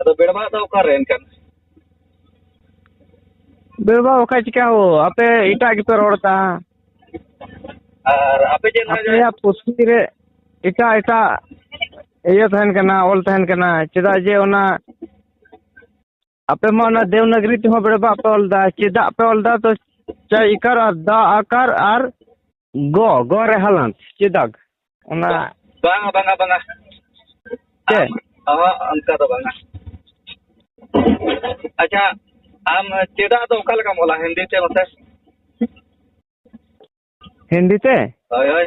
ᱟᱫᱚ ᱵᱮᱲᱵᱟᱜ ᱫᱚ ᱚᱠᱟᱨᱮ ᱮᱱᱠᱷᱟᱱ ᱵᱮᱲᱵᱟᱜ ᱵᱟᱠᱷᱟᱡ ᱪᱤᱠᱟ ᱦᱳ ᱟᱯᱮ ᱮᱴᱟᱜ ᱜᱮᱯᱮ ᱨᱚᱲ ᱮᱫᱟ ᱟᱨ ᱟᱯᱮ ᱪᱮᱫ ᱱᱟᱦᱟᱜ ᱟᱯᱮᱭᱟᱜ ᱯᱩᱛᱷᱤ ᱨᱮ ᱮᱴᱟᱜ ᱮᱴᱟᱜ ᱤᱭᱟᱹ ᱛᱟᱦᱮᱱ ᱠᱟᱱᱟ ᱚᱞ ᱛᱟᱦᱮᱱ ᱠᱟᱱᱟ ᱪᱮᱫᱟᱜ ᱡᱮ ᱚᱱᱟ ᱟᱯᱮ ᱢᱟ ᱚᱱᱟ ᱫᱮᱣᱱᱟᱜᱽᱨᱤ ᱛᱮᱦᱚᱸ ᱵᱮᱲᱵᱟᱜ ᱯᱮ ᱚᱞ ᱮᱫᱟ ᱪᱮᱫᱟᱜ ᱯᱮ ᱚᱞ ᱮᱫᱟ ᱛᱚ ᱪᱟᱭ ᱤᱠᱟᱨ ᱟᱨ ᱫᱟ ᱟᱠᱟᱨ ᱟᱨ ᱜᱚ ᱜᱚ ᱨᱮ ᱦᱟᱞᱟᱱᱛ ᱪᱮᱫᱟᱜ ᱚᱱᱟ ᱵᱟᱝᱟ ᱵᱟᱝᱟ ᱵᱟᱝᱟ ᱪᱮᱫ ᱚᱦᱚᱸ ᱚᱱᱠᱟ ᱫᱚ ᱵᱟᱝᱟ ᱟᱪᱪᱷᱟ ᱟᱢ ᱪᱮᱫᱟᱜ ᱫᱚ ᱚᱠᱟ ᱞᱮᱠᱟᱢ ᱚᱞᱟ ᱦᱤᱱᱫᱤ ᱛᱮ ᱢᱟᱥᱮ ᱦᱤᱱᱫᱤ ᱛᱮ ᱦᱳᱭ ᱦᱳᱭ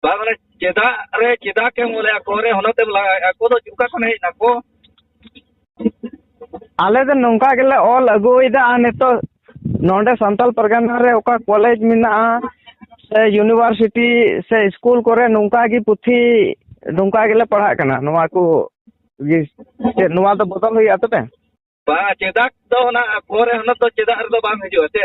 ᱵᱟᱝ ᱢᱟᱱᱮ ᱪᱮᱫᱟᱜ ᱨᱮ ᱪᱮᱫᱟᱜ ᱮᱢ ᱚᱞᱮ ᱟᱠᱚ ᱨᱮ ᱦᱚᱱᱚᱛ ᱮᱢ ᱞᱟᱜᱟᱣᱮᱫᱼᱟ ᱟᱠᱚ ᱫᱚ ᱚᱠᱟ ᱠᱷᱚᱱ ᱦᱮᱡ ᱱᱟᱠᱚ ᱟᱞᱮ ᱫᱚ ᱱᱚᱝᱠᱟ ᱜᱮᱞᱮ ᱚᱞ ᱟᱹᱜᱩᱭᱮᱫᱟ ᱟᱨ ᱱᱤᱛᱚᱜ ᱱᱚᱰᱮ ᱥᱟᱱᱛᱟᱞ ᱯᱟᱨᱜᱟᱱᱟ ᱨᱮ ᱚᱠᱟ ᱠᱚᱞᱮᱡᱽ ᱢᱮᱱᱟᱜᱼᱟ ᱥᱮ ᱤᱭᱩᱱᱤᱵᱷᱟᱨᱥᱤᱴᱤ ᱥᱮ ᱤᱥᱠᱩᱞ ᱠᱚᱨᱮ ᱱᱚᱝᱠᱟ ᱜᱮ ᱯᱩᱛᱷᱤ ᱱᱚᱝᱠᱟ ᱜᱮᱞᱮ ᱯᱟᱲᱦᱟᱜ ᱠᱟᱱᱟ ᱱᱚᱣᱟ ᱠᱚ ᱜᱮ ᱪᱮᱫ ᱱᱚᱣᱟ ᱫᱚ ᱵᱚᱫᱚᱞ ᱦᱩᱭᱩᱜᱼᱟ ᱛᱚᱵᱮ ᱵᱟᱝ ᱪᱮᱫᱟᱜ ᱫᱚ ᱚᱱᱟ ᱟᱠᱚ ᱨᱮ ᱦᱚᱱᱚᱛ ᱫᱚ ᱪᱮᱫᱟᱜ ᱨᱮᱫᱚ ᱵᱟᱝ ᱦᱤᱡᱩᱜᱼᱟ ᱥᱮ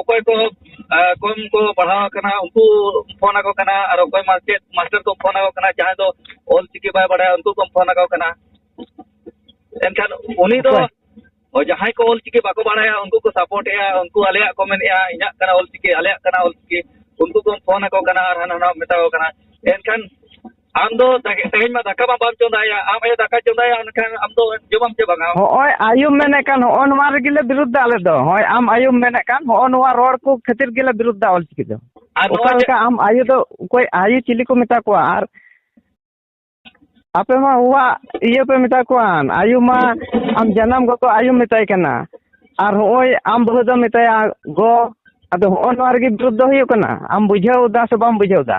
ᱚᱠᱚᱭ ᱠᱚ ᱠᱚᱢ ᱠᱚ ᱯᱟᱲᱦᱟᱣ ᱟᱠᱟᱱᱟ ᱩᱱᱠᱩ ᱯᱷᱳᱱ ᱟᱠᱚ ᱠᱟᱱᱟ ᱟᱨ ᱚᱠᱚᱭ ᱢᱟᱪᱮᱫ ᱢᱟᱥᱴᱟᱨ ᱠᱚ ᱯᱷᱳᱱ ᱟᱠᱚ ᱠᱟᱱᱟ ᱡᱟᱦᱟᱸᱭ ᱫᱚ ᱚᱞ ᱪᱤᱠᱤ ᱵᱟᱭ ᱵᱟᱲᱟᱭᱟ ᱩᱱᱠᱩ ᱠᱚ ᱯᱷᱳᱱ ᱟᱠᱚ ᱠᱟᱱᱟ ᱮᱱᱠᱷᱟᱱ ᱩᱱᱤ ᱫᱚ ᱡᱟᱦᱟᱸᱭ ᱠᱚ ᱚᱞ ᱪᱤᱠᱤ ᱵᱟᱠᱚ ᱵᱟᱲᱟᱭᱟ ᱩᱱᱠᱩ ᱠᱚ ᱥᱟᱯᱳᱨᱴ ᱮᱜᱼᱟ ᱩᱱᱠᱩ ᱟᱞᱮᱭᱟᱜ ᱠᱚ ᱢᱮᱱᱮᱜᱼᱟ ᱤᱧᱟᱹᱜ ᱠᱟᱱᱟ ᱚᱞ ᱪᱤᱠᱤ ᱟᱞᱮᱭᱟᱜ ᱠᱟᱱᱟ ᱚᱞ ᱪᱤᱠᱤ ᱩᱱᱠᱩ ᱠᱚ ᱯᱷᱳᱱ ᱟᱠᱚ ᱠᱟᱱᱟ ᱟᱨ ᱦᱟᱱᱟ ᱱᱟᱣᱟ ᱢᱮᱛᱟ ᱠᱚ ᱠᱟᱱᱟ ᱮᱱᱠᱷᱟᱱ ᱟᱢ ᱫᱚ ᱛᱮᱦᱮᱧ ᱢᱟ ᱫᱟᱠᱟ ᱢᱟ ᱵᱟᱢ ᱪᱚᱸᱫᱟᱭᱟ ᱟᱢ ᱟᱭᱳ ᱫᱟᱠᱟ ᱪᱚᱸᱫᱟᱭᱟ ᱮᱱᱠᱷᱟᱱ ᱟᱢ ᱫᱚ ᱡᱚᱢᱟᱢ ᱪᱮ ᱵᱟᱝᱟ ᱦᱚᱸᱜᱼᱚᱭ ᱟᱭᱳᱢ ᱢᱮᱱᱮᱫ ᱠᱟᱱ ᱦᱚᱸᱜᱼᱚ ᱱᱚᱣᱟ ᱨᱮᱜᱮ ᱞᱮ ᱵᱤᱨᱩᱫᱷᱟ ᱟᱞᱮ ᱫᱚ ᱦᱳᱭ ᱟᱢ ᱟᱭᱳᱢ ᱢᱮᱱᱮᱫ ᱠᱟᱱ ᱦᱚᱸᱜᱼᱚ ᱱᱚᱣᱟ ᱨᱚᱲ ᱠᱚ ᱠᱷᱟᱹᱛᱤᱨ ᱜᱮᱞᱮ ᱵᱤᱨᱩᱫᱷᱟ ᱚᱞᱪᱤᱠᱤ ᱫᱚ ᱚᱠᱟ ᱞᱮᱠᱟ ᱟᱢ ᱟᱭᱳ ᱫᱚ ᱚᱠᱚᱭ ᱟᱭᱳ ᱪᱤᱞᱤ ᱠᱚ ᱢᱮᱛᱟ ᱠᱚᱣᱟ ᱟᱨ ᱟᱯᱮ ᱢᱟ ᱚᱣᱟᱜ ᱤᱭᱟᱹ ᱯᱮ ᱢᱮᱛᱟ ᱠᱚᱣᱟ ᱟᱭᱳ ᱢᱟ ᱟᱢ ᱡᱟᱱᱟᱢ ᱜᱚᱜᱚ ᱟᱭᱳᱢ ᱢᱮᱛᱟᱭ ᱠᱟᱱᱟ ᱟᱨ ᱦᱚᱸᱜᱼᱚᱭ ᱟᱢ ᱵᱟᱹᱦᱩ ᱫᱚᱢ ᱢᱮᱛᱟᱭᱟ ᱜᱚ ᱟᱫᱚ ᱦᱚᱸᱜᱼᱚ ᱱᱚᱣᱟ ᱨᱮᱜᱮ ᱵᱤᱨᱩᱫᱷ ᱫᱚ ᱦᱩᱭᱩᱜ ᱠᱟᱱᱟ ᱟᱢ ᱵᱩᱡᱷᱟᱹᱣ ᱮᱫᱟ ᱥᱮ ᱵᱟᱢ ᱵᱩᱡᱷᱟᱹᱣ ᱮᱫᱟ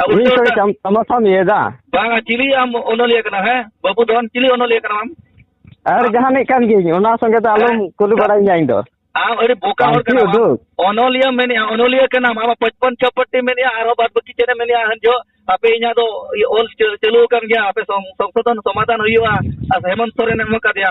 ᱟᱵᱚ ᱩᱱᱤ ᱥᱚᱨᱮ ᱪᱟᱢ ᱛᱟᱢᱟ ᱥᱟᱢ ᱭᱮᱫᱟ ᱵᱟᱝᱟ ᱪᱤᱞᱤ ᱟᱢ ᱚᱱᱚᱞᱤᱭᱟᱹ ᱠᱟᱱᱟ ᱦᱮᱸ ᱵᱟᱹᱵᱩ ᱫᱷᱚᱱ ᱪᱤᱞᱤ ᱚᱱᱚᱞᱤᱭᱟᱹ ᱠᱟᱱᱟ ᱟᱢ ᱟᱨ ᱡᱟᱦᱟᱱᱤᱡ ᱠᱟᱱ ᱜᱤᱭᱟᱹᱧ ᱚᱱᱟ ᱥᱚᱸᱜᱮ ᱫᱚ ᱟᱞᱚᱢ ᱠᱩᱞᱤ ᱵᱟᱲᱟᱭᱤᱧᱟ ᱤᱧ ᱫᱚ ᱟᱢ ᱟᱹᱰᱤ ᱵᱚᱠᱟ ᱦᱚᱲ ᱯᱟᱱᱛᱤ ᱠᱟᱱᱟᱢ ᱟᱢ᱾ ᱩᱫᱩᱜ ᱚᱱᱚᱞᱤᱭᱟᱹ ᱢᱮᱱᱮᱜᱼᱟ ᱚᱱᱚᱞᱤᱭᱟᱹ ᱠᱟᱱᱟᱢ ᱟᱢᱟᱜ ᱯᱚᱪᱯᱚᱱ ᱪᱷᱚᱯᱚᱴᱴᱤ ᱢᱮᱱᱮᱜᱼᱟ ᱟᱨᱦᱚᱸ ᱵᱟᱫ ᱵᱟᱹᱠᱤ ᱪᱮᱫ ᱮᱢ ᱢᱮᱱᱮᱜᱼᱟ ᱦᱟᱱ ᱡᱚᱦᱚᱜ ᱟᱯᱮ ᱤᱧᱟᱹᱜ ᱫᱚ ᱤᱭᱟᱹ ᱚᱞ ᱪᱟᱹ ᱪᱟᱹᱞᱩ ᱟᱠᱟᱱ ᱜᱮᱭᱟ ᱟᱯᱮ ᱥᱚᱝ ᱥᱚᱝᱥᱳᱫᱷᱚᱱ ᱥᱚᱢᱟᱫᱷᱟᱱ ᱦᱩᱭᱩᱜᱼᱟ ᱟᱨ ᱦᱮᱢᱚᱱᱛ ᱥᱚᱨᱮᱱᱮ ᱮᱢ ᱟᱠᱟᱫᱮᱭᱟ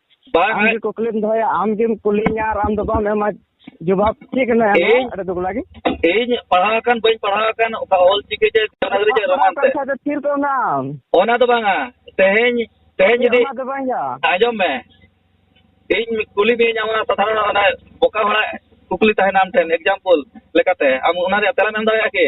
ᱵᱟᱝ ᱟᱢ ᱜᱮ ᱠᱩᱠᱞᱤᱢ ᱫᱚᱦᱚᱭᱟ ᱟᱢ ᱜᱮᱢ ᱠᱩᱞᱤᱧᱟ ᱟᱨ ᱟᱢ ᱫᱚ ᱵᱟᱢ ᱮᱢᱟ ᱡᱚᱵᱟᱵ ᱪᱮᱫ ᱠᱟᱱᱟ ᱤᱧ- ᱟᱹᱰᱤ ᱫᱩᱠ ᱞᱟᱜᱮ ᱤᱧ ᱯᱟᱲᱦᱟᱣ ᱟᱠᱟᱱ ᱵᱟᱹᱧ ᱯᱟᱲᱦᱟᱣ ᱟᱠᱟᱱ ᱚᱠᱟ ᱚᱞ ᱪᱤᱠᱤ ᱡᱮ ᱫᱮᱵᱽᱱᱟᱜᱚᱨᱤ ᱡᱮ ᱨᱳᱢᱟᱱ ᱛᱮ ᱠᱟᱛᱷᱟ ᱫᱚ ᱛᱷᱤᱨ ᱠᱚᱜ ᱢᱮ ᱟᱢ ᱚᱱᱟ ᱫᱚ ᱵᱟᱝᱟ ᱛᱮᱦᱮᱧ ᱛᱮᱦᱮᱧ ᱡᱩᱫᱤ ᱚᱱᱟ ᱫᱚ ᱵᱟᱝ ᱭᱟ ᱟᱸᱡᱚᱢ ᱢᱮ ᱤᱧ ᱠᱩᱞᱤ ᱢᱤᱭᱟᱹᱧ ᱟᱢ ᱚᱱᱟ ᱥᱟᱫᱷᱟᱨᱚᱱ ᱚᱱᱟ ᱵᱚᱠᱟ ᱦᱚᱲᱟᱜ ᱠᱩᱠᱞᱤ ᱛᱟᱦᱮᱱᱟ ᱟᱢ ᱴᱷᱮᱱ ᱮᱠᱡᱟᱢᱯᱚᱞ ᱞᱮᱠᱟᱛᱮ ᱟᱢ ᱚᱱᱟ ᱨᱮᱭᱟᱜ ᱛᱮᱞᱟᱢ ᱮᱢ ᱫᱟᱲᱮᱭᱟᱜᱼᱟ ᱠᱤ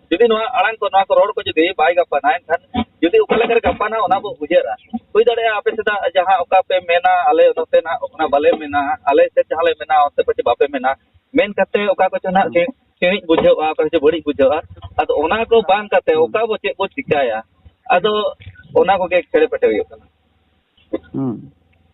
ᱡᱩᱫᱤ ᱱᱚᱣᱟ ᱟᱲᱟᱝ ᱠᱚ ᱱᱚᱣᱟ ᱠᱚ ᱨᱚᱲ ᱠᱚ ᱡᱩᱫᱤ ᱵᱟᱭ ᱜᱟᱯᱟᱱᱟ ᱮᱱᱠᱷᱟᱱ ᱡᱩᱫᱤ ᱚᱠᱟ ᱞᱮᱠᱟᱨᱮ ᱜᱟᱯᱟᱱᱟ ᱚᱱᱟ ᱵᱚ ᱩᱭᱦᱟᱹᱨᱟ ᱦᱩᱭ ᱫᱟᱲᱮᱭᱟᱜᱼᱟ ᱟᱯᱮ ᱥᱮᱫᱟᱜ ᱡᱟᱦᱟᱸ ᱚᱠᱟ ᱯᱮ ᱢᱮᱱᱟ ᱟᱞᱮ ᱱᱚᱛᱮ ᱱᱟᱜ ᱚᱱᱟ ᱵᱟᱞᱮ ᱢᱮᱱᱟ ᱟᱞᱮ ᱥᱮᱫ ᱡᱟᱦᱟᱸ ᱞᱮ ᱢᱮᱱᱟ ᱚᱱᱛᱮ ᱯᱟᱪᱮ ᱵᱟᱯᱮ ᱢᱮᱱᱟ ᱢᱮᱱ ᱠᱟᱛᱮ ᱚᱠᱟ ᱠᱚᱪᱚ ᱱᱟᱜ ᱥᱤᱬᱤᱡ ᱵᱩᱡᱷᱟᱹᱜᱼᱟ ᱚᱠᱟ ᱠᱚᱪᱚ ᱵᱟᱹᱲᱤᱡ ᱵᱩᱡᱷᱟᱹᱜᱼᱟ ᱟᱫᱚ ᱚᱱᱟ ᱠᱚ ᱵᱟᱝ ᱠᱟᱛᱮ ᱚᱠᱟ ᱵᱚ ᱪᱮᱫ ᱵᱚ ᱪᱤᱠᱟᱹᱭᱟ ᱟᱫᱚ ᱚᱱᱟ ᱠᱚᱜᱮ ᱠᱷᱮᱲᱮ ᱯᱮᱴᱮ ᱦᱩᱭᱩᱜ ᱠᱟᱱᱟ ᱦᱩᱸ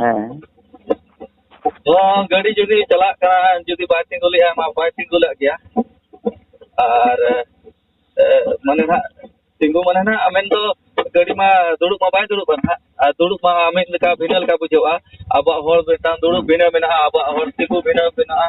ᱦᱮᱸ ᱛᱚ ᱜᱟᱹᱰᱤ ᱡᱩᱫᱤ ᱪᱟᱞᱟᱜ ᱠᱟᱱᱟ ᱡᱩᱫᱤ ᱵᱟᱭ ᱛᱤᱸᱜᱩ ᱞᱮᱫᱼᱟ ᱢᱟ ᱵᱟᱭ ᱛᱤᱸᱜᱩ ᱞᱮᱫ ᱜᱮᱭᱟ ᱟᱨ ᱮ, ᱢᱟᱱᱮ ᱱᱟᱜ ᱛᱤᱸᱜᱩ ᱢᱟᱱᱮ ᱱᱟᱜ ᱢᱮᱱᱫᱚ ᱜᱟᱹᱰᱤ ᱢᱟ ᱫᱩᱲᱩᱵ ᱢᱟ ᱵᱟᱭ ᱫᱩᱲᱩᱵᱼᱟ ᱱᱟᱜ ᱟᱨ ᱫᱩᱲᱩᱵ ᱢᱟ ᱢᱤᱫ ᱞᱮᱠᱟ ᱵᱷᱤᱱᱟᱹ ᱞᱮᱠᱟ ᱵᱩᱡᱷᱟᱹᱜᱼᱟ ᱟᱵᱚᱣᱟᱜ ᱦᱚᱲ ᱢᱤᱫᱴᱟᱝ ᱫᱩᱲᱩᱵ ᱵᱷᱤᱱᱟᱹ ᱢᱮᱱᱟᱜᱼᱟ ᱟᱵᱚᱣᱟᱜ ᱦᱚᱲ ᱛᱤᱸᱜᱩ ᱵᱷᱤᱱᱟᱹ ᱢᱮᱱᱟᱜᱼᱟ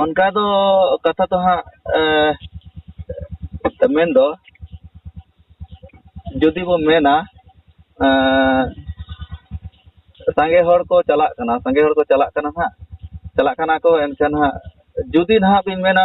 ᱚᱱᱠᱟ ᱫᱚ ᱠᱟᱛᱷᱟ ᱫᱚ ᱦᱟᱸᱜ ᱢᱮᱱ ᱫᱚ ᱡᱩᱫᱤ ᱵᱚ ᱢᱮᱱᱟ ᱥᱟᱸᱜᱮ ᱦᱚᱲ ᱠᱚ ᱪᱟᱞᱟᱜ ᱠᱟᱱᱟ ᱥᱟᱸᱜᱮ ᱦᱚᱲ ᱠᱚ ᱪᱟᱞᱟᱜ ᱠᱟᱱᱟ ᱦᱟᱸᱜ ᱪᱟᱞᱟᱜ ᱠᱟᱱᱟ ᱠᱚ ᱮᱱᱠᱷᱟᱱ ᱦᱟᱸᱜ ᱡᱩᱫᱤ ᱱᱟᱦᱟᱸᱜ ᱵᱤᱱ ᱢᱮᱱᱟ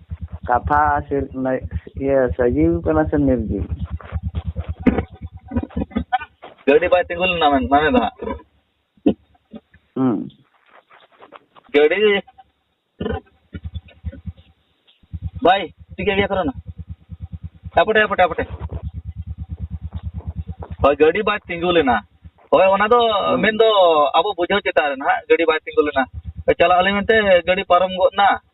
ᱠᱟᱛᱷᱟ ᱥᱮ ᱤᱭᱟᱹ ᱥᱟᱡᱤᱣ ᱠᱟᱱᱟ ᱥᱮ ᱱᱤᱨᱡᱤᱣ ᱜᱟᱹᱰᱤ ᱵᱟᱭ ᱛᱤᱸᱜᱩ ᱞᱮᱱᱟ ᱢᱟᱱᱮ ᱫᱚ ᱦᱟᱸᱜ ᱦᱩᱸ ᱜᱟᱹᱰᱤ ᱵᱟᱭ ᱴᱷᱤᱠᱟᱹ ᱜᱮᱭᱟ ᱠᱚᱨᱚᱱᱟ ᱟᱯᱚᱴᱮ ᱟᱯᱚᱴᱮ ᱟᱯᱚᱴᱮ ᱦᱳᱭ ᱜᱟᱹᱰᱤ ᱵᱟᱭ ᱛᱤᱸᱜᱩ ᱞᱮᱱᱟ ᱦᱳᱭ ᱚᱱᱟ ᱫᱚ ᱢᱮᱱᱫᱚ ᱟᱵᱚ ᱵᱩᱡᱷᱟᱹᱣ ᱪᱮᱛᱟᱱ ᱨᱮ ᱱᱟᱦᱟᱜ ᱜᱟᱹᱰᱤ ᱵᱟᱭ ᱛᱤᱸᱜᱩ ᱞᱮᱱᱟ ᱪᱟᱞᱟᱜ ᱟᱹᱞᱤᱧ ᱢᱮᱱᱛᱮ ᱜᱟᱹᱰᱤ ᱯᱟᱨᱚᱢ ᱜᱚᱫ ᱮᱱᱟ